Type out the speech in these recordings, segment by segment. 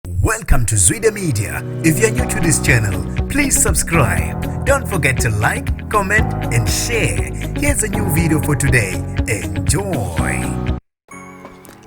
Welcome to Zwide Media. If you're new to this channel, please subscribe. Don't forget to like, comment and share. Here's a new video for today. Enjoy.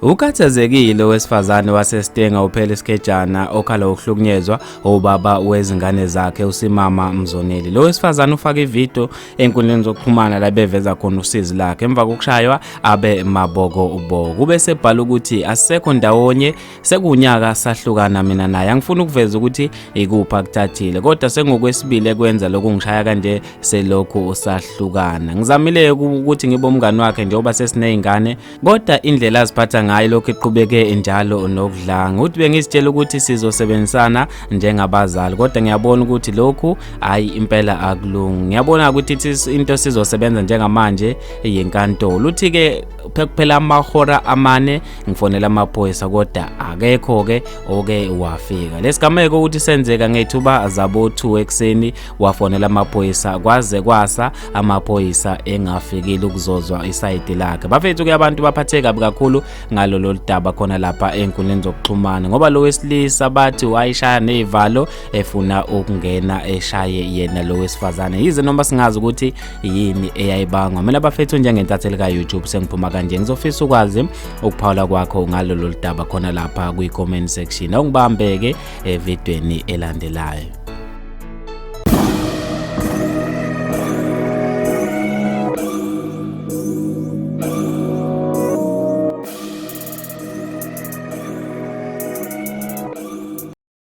Ukhathazekile owesifazane waseStenga uphele isikejana okhala ukuhlukunyezwa ubaba wezingane zakhe uSimama Mzoneli. Lo wesifazane ufake ivideo enkundleni zokuxhumana labeveza khona usizi lakhe emva kokushaywa abe maboko uboko. Ube sebhala ukuthi asekho ndawonye sekuwunyaka sahlukana mina naye angifuni ukuveza ukuthi ikuphi akuthathile kodwa sengokwesibili ekwenza lokhu ngishaya kanje selokhu usahlukana ngizamile ukuthi ngibe umngani wakhe njengoba sesiney'ngane kodwa indlela aziphatha ngayo lokhu iqhubeke njalo nokudlanga uthi bengizitshela ukuthi sizosebenzisana njengabazali kodwa ngiyabona ukuthi lokhu hhayi impela akulungi ngiyabona ukuthi into sizosebenza njengamanje yenkantolo uthi-ke phekuphela amahora amane ngifonela amaphoyisa kodwa akekho ke oke wafika lesigameko ukuthi senzeka ngethuba zabo 2 ekseni wafonela amaphoyisa kwaze kwasa amaphoyisa engafikile ukuzozwa isayidi lakhe bafethu ke abantu baphatheka kakhulu ngalolo ludaba khona lapha enkundleni zokuxhumana ngoba lo wesilisa bathi wayishaya nezivalo efuna ukungena eshaye yena lo wesifazane yize noma singazi ukuthi yini eyayibangwa mina bafethu njengentatheli ka-youtube sengiphuma kanje ngizofisa ukwazi ukuphawula kwakho ngalolo ludaba khona lapha kwi-comment section awungibambeke evidweni elandelayo